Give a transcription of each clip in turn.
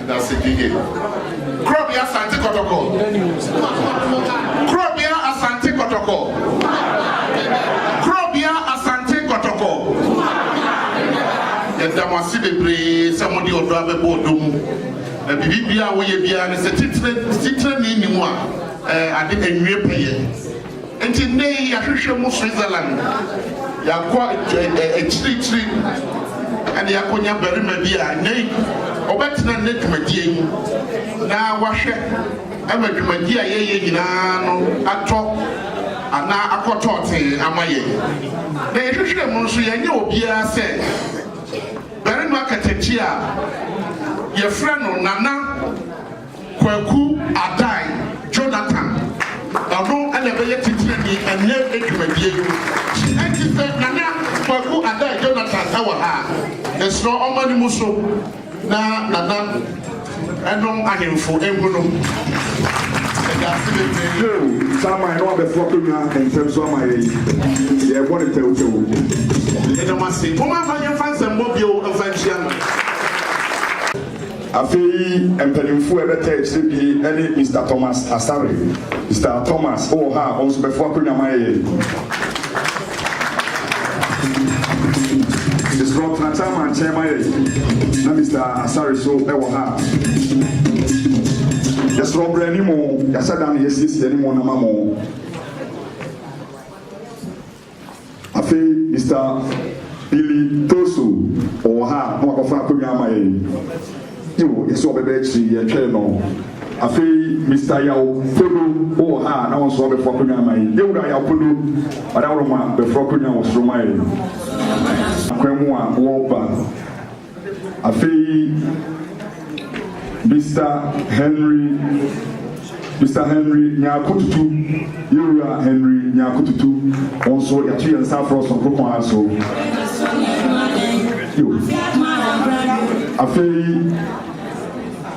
That's Gigi. Krobia Asante Kotoko. Krobia Asante Kotoko. Krobia Asante Kotoko. Yɛda mo ase bebree sɛ mode ɔdɔ abɛbɔ ɔdɔ mu. Na biribi a woyɛ biara no sɛ titire ni ni mu a, ade anwie pɛyɛ. Enti nnɛ yi yɛahwehwɛ mu Switzerland, yɛakɔ akyirikyiri na yɛakɔnya barima bi a nnɛ yi ɔbɛtena nnɛ dwumadie yi mu na wahwɛ ma dwumadie a yɛyɛ nyinaa no atɔ anaa akɔ tɔɔtee ama yɛn. Na yɛhwehwɛɛ mu nso yɛanyɛ obiara sɛ barima katakyi a yɛfrɛ no Nana Kwaku Adai Jonathan, ɔno na ɛbɛyɛ titirani ɛnnɛ dwumadie no mu. Enti sɛ Nana Kwaku Adai Jonathan wɔ ha a, mesrɛ ɔmma ne mu so na Nana nom ahemfo nhu no. Yɛda ase bebree. Yo, saa man no abɛfo akonnwa ntɛm so ama yɛn. Yɛrebɔ no tɛwtɛw. Yɛda mo ase. Momma mfa yɛmfa nsɛmmɔ bio mfa nhyia no. Afei mpaninfoɔ a ɛbɛtaa akyire bi ne Mister Thomas Asare. Mister Thomas wɔ ha a ɔnso bɛfo akonwa ma yɛn. Mesrɛ tena Chairman nkyɛn ma yɛn na Mister Asare so wɔ ha a. Yɛsrɛ brɛ anim o, yɛahyɛ da na yɛasiesie anim na ma mo. Afei Mister Billy Toso ɔwɔ ha na wakɔfa akonnwa ama yɛn. Yoo, yɛsɛ ɔbɛba akyiri yi, yɛtwɛn no. Afei Mister Yaw Podo wowɔ ha a, na wo nso wabɛforo akonnwa ama yɛn. Yɛwura Yaw Podo, Ɔdaworoma, bɛforo akonnwa wɔ soro ma yɛn. Akwan mu a wɔreba. Afei Mista Henry, Mista Henry Nyarko Tutu, yɛn wura Henry Nyarko Tutu, wɔn nso yɛato yɛn nsa afrɛ sononko kwan ara so. Yo. Afei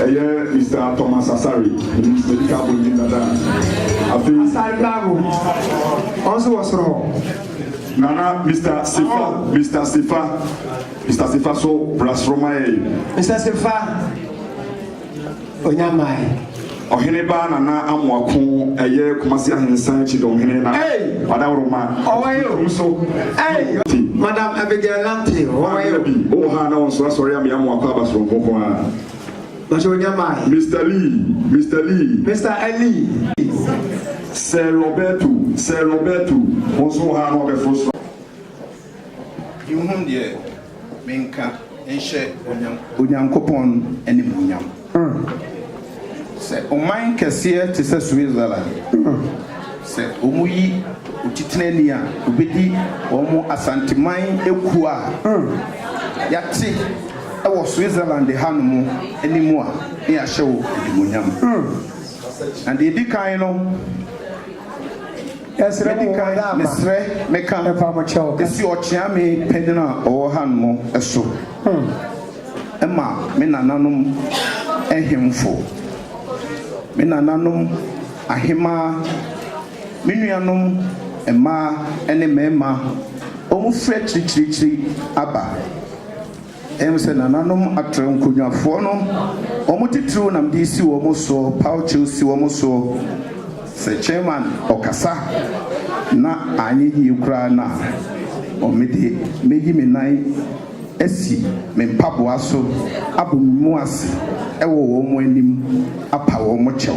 Ɛyɛ Mister Thomas Asare, Minim Sɛbi Ka Abɔ Din Dada Afei. Asare Bravo, Ɔno nso wɔ soro hɔ. Nana Mister Sefa, Mister Sefa, Mister Sefa nso bra soro ma yɛn. Mister Sefa, Onyamae. Ɔhene Ba Nana Amoako, Ɛyɛ Kumasi Ahensan Akyi Dɔnhene na Wadawuroma. Ɔwɔ yɛ o. Nso. Ɛy. Madam Abigail Nante, Ɔwɔ yɛ o. Bi, Ɔwɔ ha na Ɔnso Asɔre Ame Amoako Aba Soronko Nko Ara. Mister Lee, Mister Lee. Mister Elie. Sir Roberto, Sir Roberto, wo nso wo ha na wɔbɛforo soro. Nhunu deɛ menka nhyɛ Onyankopɔn. Onyankopɔn animuonyam. Sɛ ɔman kɛseɛ te sɛ Switzerland, sɛ wɔyi otitenani a ɔbɛdi wɔn Asanteman ekuo a yɛate. Wɔ Switzerland hanom ne mu a, ne yɛahyɛ wo animuonyam. Na deɛ ɛdi kan no, medi kan mesrɛ meka si ɔkyeame panin a ɔwɔ hanom so ma me nananom ahemfo, me nananom ahemmaa, me nuanom mmaa ne mmarima, wɔfiri akyirikyirikyiri aba. Ɛwom sɛ nananom atrɛw nkonnwafoɔ no, wɔn titiriw nam de si wɔn soɔ, paw kyɛw si wɔn soɔ. Sɛ chairman ɔkasa na anyɛ yie koraa no a, me de mɛyi me nan asi me mpaboa so abɔ me mu ase wɔ wɔn anim apa wɔn kyɛw.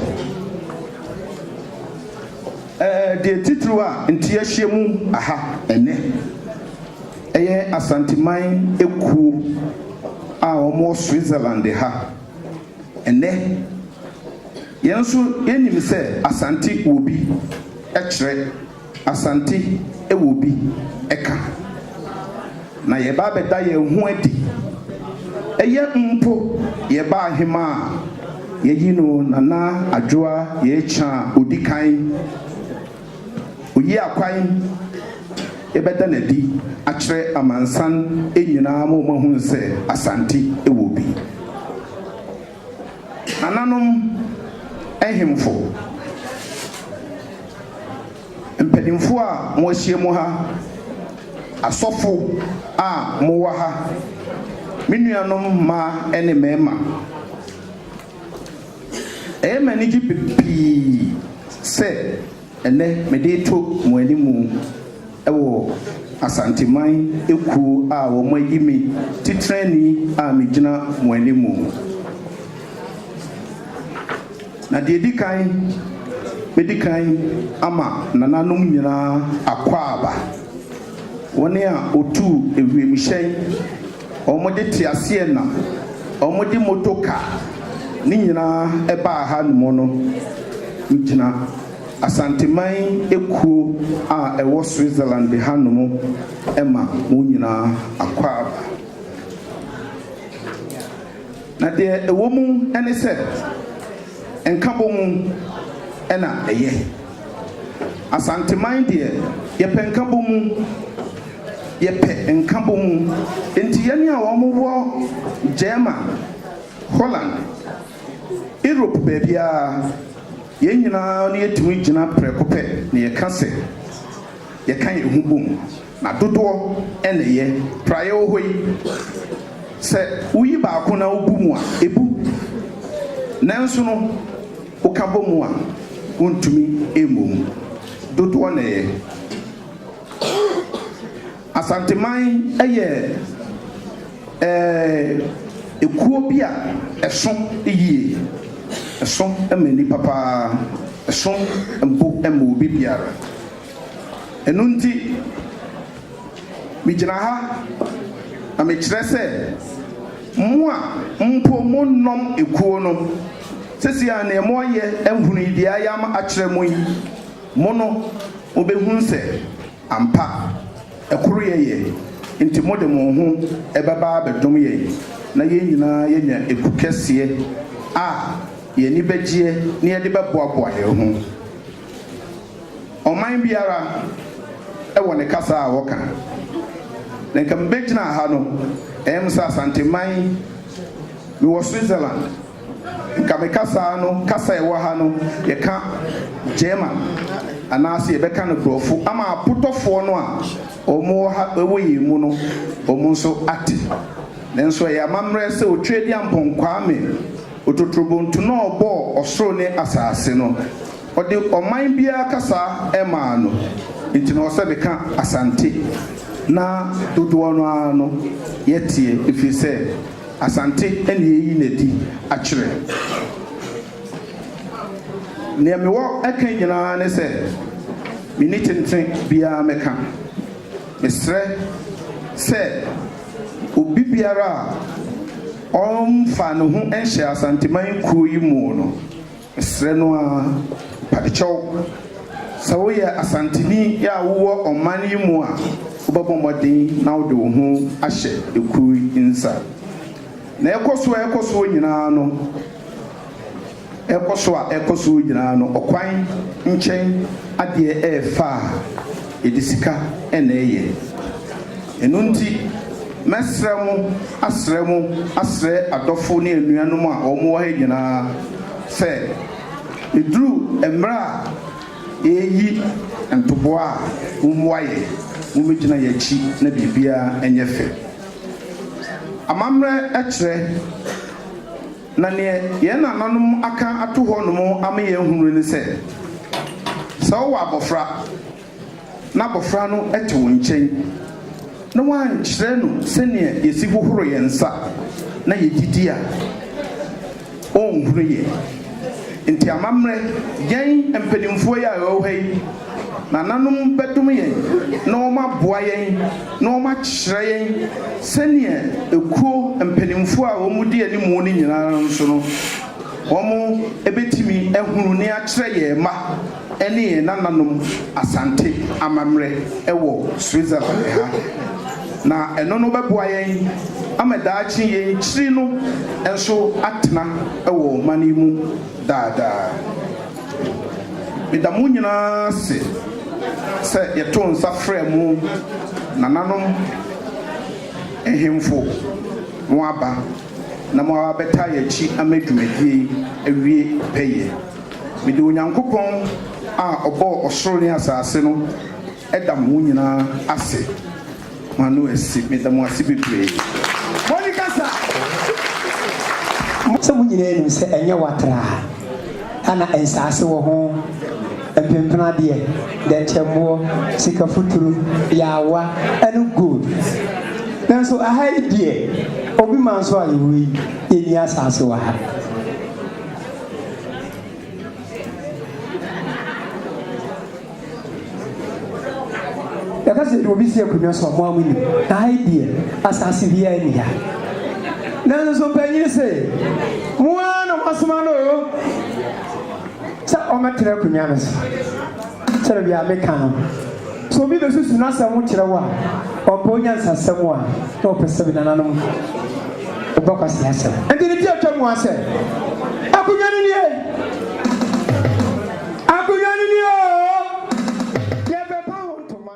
Ɛɛ deɛ titiriw a nti yɛahyia mu ha ɛnnɛ. Ɛyɛ Asanteman ekuo a wɔwɔ Switzerland ha ɛnnɛ. Yɛn nso yɛnim sɛ Asante wɔ bi kyerɛ, Asante wɔ bi ka. Na yɛreba abɛda yɛn ho adi. Ɛyɛ mpo yɛbaa Hemaa a, yɛyi no Nana Adwoa Yɛakya a ɔdi kan. Oyi akwan bɛda no adi akyerɛ amansan nyinaa ma wɔahunu sɛ Asante wɔ bi. Nananom nhemfo, mpanimfoɔ a moahyiam ha, asɔfo a mowɔ ha, me nuanom mmaa ne mmarima, Ɛyɛ me anigye pii sɛ ɛnnɛ mede reto mo anim wɔ Asanteman ekuo a wɔayi me titrani a megyina mo anim. Na deɛ ɛdi kan, mɛdi kan ama nananom nyinaa akwaaba, wɔn a wɔtuu ewiemuhyɛn, Wɔde teaseɛnam, wɔde motor car, ne nyinaa ɛbaa ha nom no gyina Asanteman ekuo a ɛwɔ Switzerland ha nom ma wɔn nyinaa akɔ aba. Na deɛ ɛwɔ mu ne sɛ, nkabɔ mu na ɛyɛ. Asanteman deɛ yɛpɛ nkabɔmu, yɛpɛ nkabɔmu. Nti yɛne a wɔn wɔ German, Holland, Europe baabiara, yɛn nyinaa na yɛtumi gyina prɛko pɛ na yɛka sɛ yɛka yɛn ho bom. Na dodoɔ na ɛyɛ. Praeɛ wɔ hɔ yi, sɛ woyi baako na wobu mu a, ɛbu. Nanso no. Woka bɔ mu a, wontumi mmɔ mu. Dodoɔ na ɛyɛ. Asanteman yɛ ɛɛ kuo bi a ɛso yie. Ɛso ma nnipa pa ara. Ɛso bo ma obi biara. Ɛno nti, megyina ha na mekyerɛ sɛ, mo a mpo monnɔm ekuo no, Sesei a nea moayɛ ahunu yi, deɛ ayɛ ama akyerɛ mo yi, mo no, mobɛhunu sɛ ampa ɛkoro yɛ yɛ, enti mode mo ho bɛba abɛdom yɛn, na yɛn nyinaa yɛanya eku kɛseɛ a yɛn ani bɛgyeɛ na yɛde bɛboaboa yɛn ho. Ɔman biara wɔ ne kasa a wɔka, na nka mebɛgyina ha no, ɛyɛ me sɛ Asanteman, Mewɔ Switzerland. Nka me kasaa no kasa a ɛwɔ ha no yɛka German anaase yɛbɛka no brɔfo ama apotɔfoɔ no a ɔmo wɔ ha wɔ yɛn mu no ɔmo nso ate. Nanso ɛyɛ amammerɛ sɛ Otweadiampɔn Kwame Ototorobontu no a ɔbɔɔ ɔsoro ne asaase no, Ɔde ɔman biara kasa maa no, enti na ɔwɔ sɛ meka Asante. Ná dodoɔ no ara no yɛ teɛ, ɛfiri sɛ Asante na yɛreyi no adi akyerɛ. Deɛ mewɔ ka nyinaa ne sɛ, menni tentene biara mɛka. Mesrɛ sɛ obi biara a ɔmfa ne ho nhyɛ Asanteman kuo yi mu no, Mesrɛ no ara padekyɛw, sɛ woyɛ Asanteni a wowɔ ɔman yi mu a, wobɛbɔ mmɔden na wode wo ho ahyɛ ekuo yi nsa. Na ɛkɔ soɔ ɛkɔ soɔ nyinaa no, ɛkɔ so a ɛkɔ soɔ nyinaa no, ɔkwan nkyɛn adeɛ ɛɛfaa. Yɛde sika na ɛyɛ. Ɛno nti, mɛsrɛ mo, asrɛ mo, asrɛ adɔfo ne anuanom a wɔwɔ ha nyinaa sɛ, ɛduru mmerɛ a yɛreyi ntoboa a, mommoa yɛn, mommɛgyina yɛn akyi na biribiara nyɛ fɛ. Amammerɛ kyerɛ. Na neɛ yɛn nananom aka ato hɔ nom ama yɛn ahunu ne sɛ, sɛ wowɔ abɔfra, na abɔfra no te wo nkyɛn, na woankyerɛ no sɛdeɛ yɛsi hohoro yɛn nsa na yɛdidi a, ɔrenhunu yɛn. Enti amammerɛ, yɛn mpanimfoɔ yi a yɛwɔ ha yi, Nananom bɛdom yɛn na wɔaboa yɛn na wɔakyerɛ yɛn sɛdeɛ ekuo mpanimfoɔ a wɔdi anim no nyina ara nso no, wɔbɛtumi ahunu ne akyerɛ yɛn mma ne yɛn nananom Asante amammerɛ wɔ Switzerland ha. Na ɛno no bɛboa yɛn ama daakye yɛn kyiri no nso atena wɔ ɔman yi mu daadaa. Meda mo nyinaa ase sɛ yɛtoo nsa frɛɛ mo nananom nhemfo moaba na moaba abɛtaa yɛn akyi ama dwumadie yi awie pɛyɛ. Mede Onyankopɔn a ɔbɔɔ ɔsoro ne asaase no da mo nyinaa ase. M'ano asi. Meda mo ase bebree. Monica sa. Sɛ mo nyinaa nim sɛ ɛnyɛ watraa ha na nsaase wɔ ho mpempena adeɛ, dɛnkyɛmmoɔ, sika futuro, yaawa ɛne gold. Nanso aha yi deɛ obi ma nso a yɛwɔ yi yɛnni asaase wɔ ha. Yɛka sɛ de obi si akonnwa so a, mo ara monim. Na ha yi deɛ, asase biara nni ha. Nanso mpanyin se, Mo ara na moasoma no oo, sɛ ɔmmɛtena akonnwa no so. Sɛdeɛ bia meka no, sɛ obi bɛsusu n'asɛm ho kyerɛ wo a, ɔmpɛ wo nyansasɛm a, na ɔpɛ sɛ nananom bɔ kwaseasɛm. Enti ne ti atwa mu ara sɛ, Akonnwa no nie! Akonnwa no ni oo, yɛpepa ho ntoma.